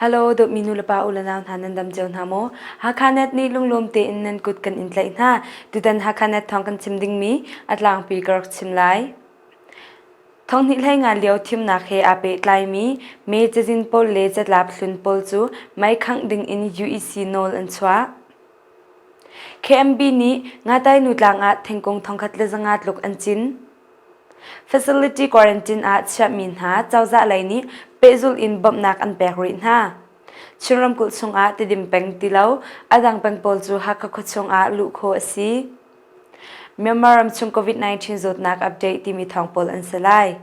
Halo, dawtmi nulepa u le nau hna nan dam cio hna maw? Hakha net nih lunglawm tein nan kut kan in tlaih hna. Tutan Hakha net thawng kan chim dingmi a tlangpi ka rak chim lai. Thonghnih hlei ngan lio thimnak he aa pehtlaimi me cazin pawl le catlap hlun pawl cu maikhangh ding in UEC nawl an chuah. KMB nih Ngatainu tlang ah thingkung thongkhat le zanga tluk an cin. Facility quarantine ah chiahmi hna cozah lei nih pehzulh in bawmhnak an pek rih hna. Chin ramkulh chungah tidim peng ti lo, a dang peng pawl cu Hakha khua chungah luh khawh a si. Myanmar ram chung COVID-19 zawtnak update timi thawng pawl an si lai.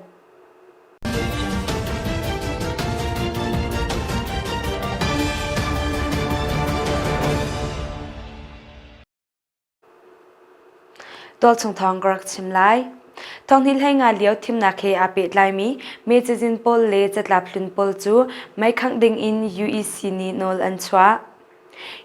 Tualchung thawng ka rak chim lai. Thonghni hlei nga lio thimnak he aa pehtlaimi mecazin pawl le catlap hlun pawl cu mei khangh ding in UEC nih nawl an chuah.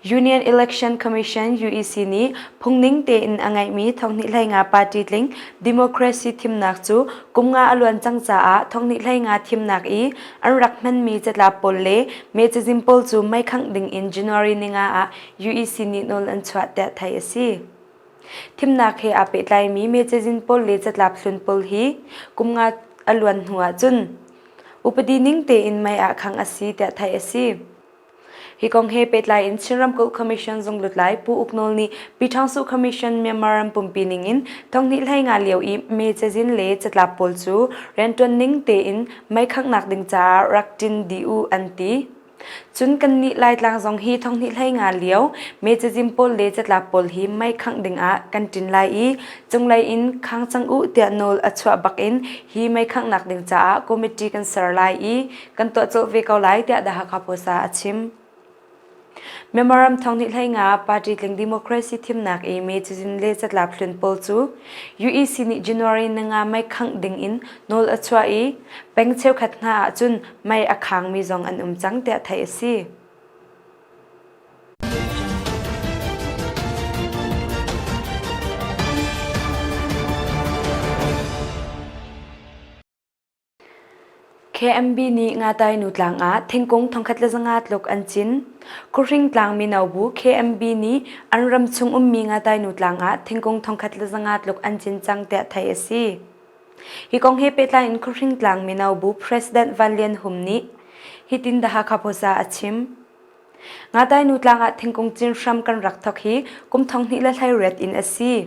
Union Election Commission UEC nih phungning tein a ngeihmi thonghnihlei nga party tling democracy thimnak cu kum nga a luan cang caah thonghnihlei nga thimnak i an rak hmanmi catlap pawl le mecazin pawl cu meikhangh ding in January ni nga ah UEC nih nawl an chuah tiah theih a si. Thimnak he aa pehtlaimi mecazin pawl le catlap hlun pawl hi kum nga a luan hnu ahcun upadi ning tein mei ah khangh a si tiah theih a si. Hi kong he pehtlai in Chin Ramkulh Commission zung lutlai Pu Uk Nawl nih Pi Ṭhang Su Commission Myanmar ram pumpi ning in thonghnih hlei nga lio i me cazin le catlap pawl cu rianṭuan ning tein mei khanghnak ding caah rak ṭin dih u an ti. Cun kannih Laitlang zong hi thonghnih hlei nga lio me cazin pawl le catlap pawl hi mei khangh dingah kan ṭin lai i cunglei in khang cang u tiah nawl a chuah bak in hi mei khanghnak ding caah committee kan ser lai i kan tuah cawh ve ko lai tiah The Hakha Post ah a chim. Memorandum thong nih hlei nga party tling democracy thimnak i May cizin le catlap hlun pawl cu UEC nih January nanga mai khangh ding in nawl a chuah i peng cheukhat hna ah cun mai a khangmi zong an um cang tiah theih a si. KMB nih Ngatainu tlang ah thingkung thongkhat le zanga tluk an cin. Kuhring tlang mino bu KMB nih an ram chung ummi Ngatainu tlang ah thingkung thongkhat le zanga tluk an cin cang tiah theih a si. Hi kong he pehtlai in Kuhring tlang mino bu President Van Lian Hum nih hitin The Hakha Post ah a chim. Ngatai-nu tlang ah thingkung cin hram kan rak thok hi kum thong hnih le hleiriat in a si.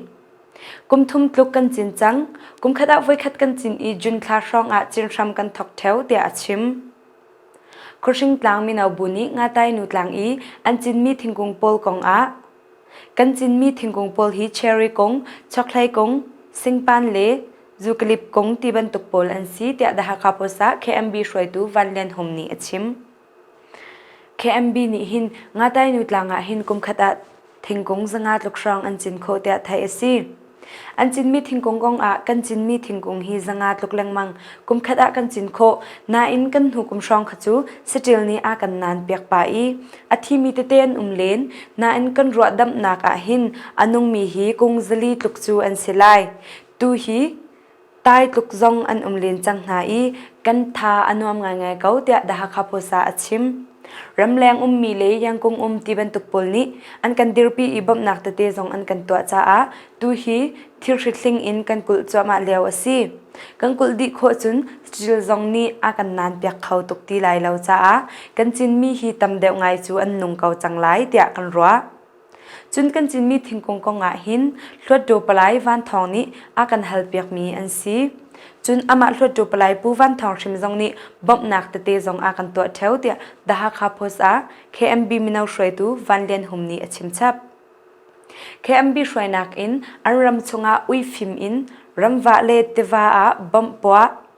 Kum thum tluk kan cin cang. Kum khat ah voikhat kan cin i June thla hrawng ah cin hram kan thok theo tiah a chim. Khuhring tlang mino bu nih Ngatai-nu tlang i an cinmi thingkung pawl kong ah kan cinmi thingkung pawl hi cherry kung, chokhlei kung, singpan le zukalip kung ti bantuk pawl an si tiah The Hakha Post ah KMB hruaitu Van Lian Hum nih a chim. KMB nih hin Ngatainu tlang ah hin kumkhat ah thingkung zanga tluk hrawng an cin khawh tiah theih a si. An cinmi thingkung kong ah kan cinmi thingkung hi zanga tluk lengmang kumkhat ah kan cin khawh nain kan hnu kum hrawng kha cu saṭil nih a kan nan piak pah i a thimi tete an um len nain kan ruah damhnak ah hin a nungmi hi kung zali tluk cu an si lai. Tu hi Tai tluk zong an um len cang hna i kan tha a nuam ngaingai ko tiah The Hakha Post ah a chim. Ramleng ummi le Yangkung um ti bantuk pawl nih an kan dirpi i bawmhnak tete zong an kan tuah caah tu hi thirhrit hling in kan kulh cuahmah lio a si. Kan kulh dih khawh cun Cil zong nih a kan nan piak kho tuk ti lai lo caah kan Chinmi hi tam deuh ngai cu an nung ko cang lai tiah kan ruah. Cun kan Cinmi thingkung kongah hin Hluatṭaw palai Van Thawng nih a kan halpiakmi an si. Cun amah Hluatṭaw palai Pu Van Thawng hrim zong nih bawmhnak tete zong a kan tuah ṭheo tiah The Hakha Post ah KMB mino hruaitu Van Lian Hum nih a chimchap. KMB hruainak in an ram chungah uifim in ramvah le tiva ah bawmh puah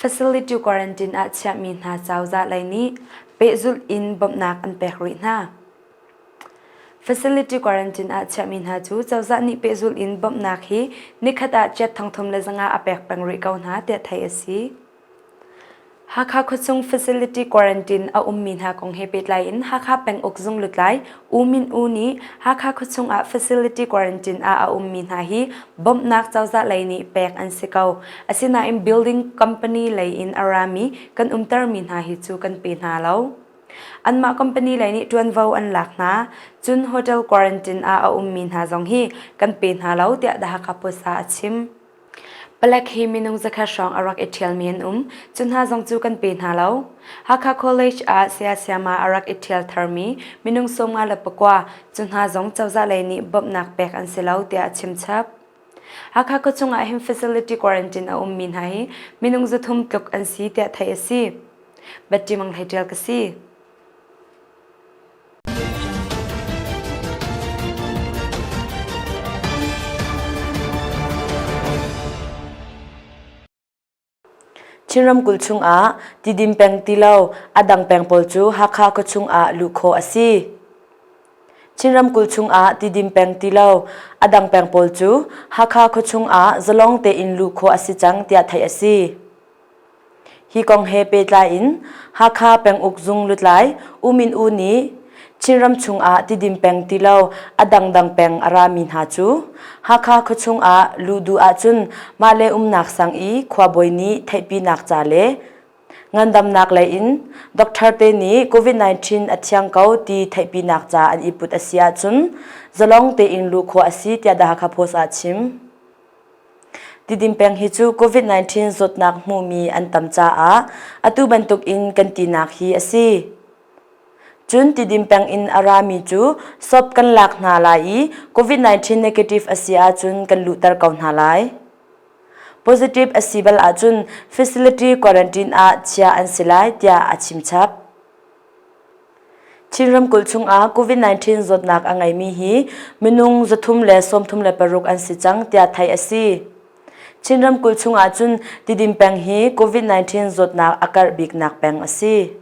Facility quarantine ah chiahmi hna cozah lei nih pehzulh in bawmhnak an pek rih hna. Facility quarantine ah chiahmi hna cu cozah nih pehzulh in bawmhnak hi nikhat ah chiat thongthum le zanga a pek peng rih ko hna tiah theih a si. Hakha khuachung facility quarantine a ummi hna kong he pehtlai in Hakha penguk zung lutlai U Min U nih Hakha khuachung ah facility quarantine ah a ummi hna hi bawmhnak cozah lei nih pek an si ko. Asinain building company lei in a rami kan umtermi hna hi cu kan pe hna lo. Anmah company lei nih ṭuanvo an lak hna. Cun hotel quarantine ah a ummi hna zong hi kan pe hna lo tiah The Hakha Post ah a chim. Palek hi minung zakhat hrawng a rak i ṭhialmi an um. Cu hna zong cu kan pe hna lo. Hakha College ah saya siama a rak i ṭhial tharmi minung sawmnga le pakua cu hna zong cozah lei nih bawmhnak pek an si lo tiah a chimchap. Hakha khuachung ah hin facility quarantine a ummi hna hi minung zathum tluk an si tiah theih a si. Batti Mang Hlei ṭial ka si. Chin ramkulh chungah tidim peng ti lo a dang peng pawl cu Hakha khua chungah luh khawh a si. Chin ramkulh chungah tidim peng ti lo a dang peng pawl cu Hakha khua chungah zalong tein luh khawh a si cang tiah theih a si. Hi kong he pehtlai in Hakha Penguk Zung lutlai U Min U nih Chinram chungah tidim peng ti lo a dangdang peng a rami hna cu Hakha khuachung ah luh duh ahcun mahle umnak sang i khuabawi nih theihpinak ca le ngandamnak lei in doctor te nih COVID-19 a thiang ko ti theihpinak ca an iput a si ahcun zalong tein luh khawh a si tiah The Hakha Post ah a chim. Tidim peng hi cu COVID-19 zawtnak hmumi an tam caah atu bantukin kan tinak hi a si. Cun Tidim peng in a rami cu shop kan lak hna lai i COVID-19 negative a si ahcun kan luhter ko hna lai. Positive a si bal ahcun facility quarantine ah chia an si lai tiah a chimchap. Chin ramkulh chungah COVID-19 zawtnak a ngeimi hi minung zathum le sawmthum le paruk an si cang tiah theih a si. Chin ramkulh chungah cun Tidim peng hi COVID-19 zawtnak a karh biknak peng a si.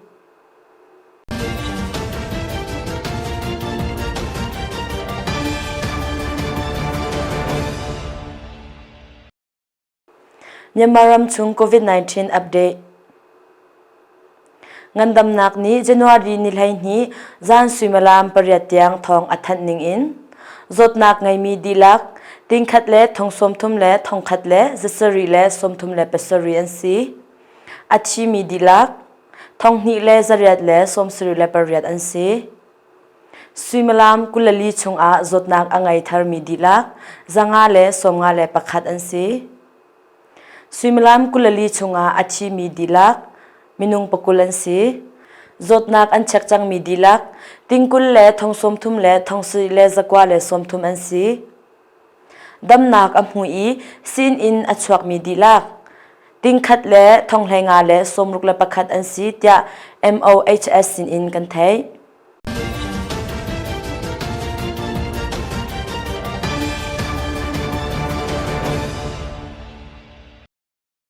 Myanmar ramchung COVID-19 update Ngandamnak nih January ni hleihnih zan suimilam pariat tiang thawng a thanh ning in zawtnak ngeimi dihlak tingkhat le thongsawmthum le thongkhat le zasarih le sawmthum le pasarih an si. A thimi dihlak thonghnih le zariat le sawmsarih le pariat an si. Suimilam kulali chungah zawtnak a ngei tharmi dihlak zanga le sawmnga le pakhat an si. Suimilam kulali chungah a thimi dihlak minung pakul an si. Zawtnak an chek cangmi dihlak tingkul le thongsawmthum le thongsui le zakua le sawmthum an si. Damnak a hmu i sinin a chuakmi dihlak, tingkhat le thonghlei nga le sawmruk le pakhat an si tiah MOHS sinin kan theih.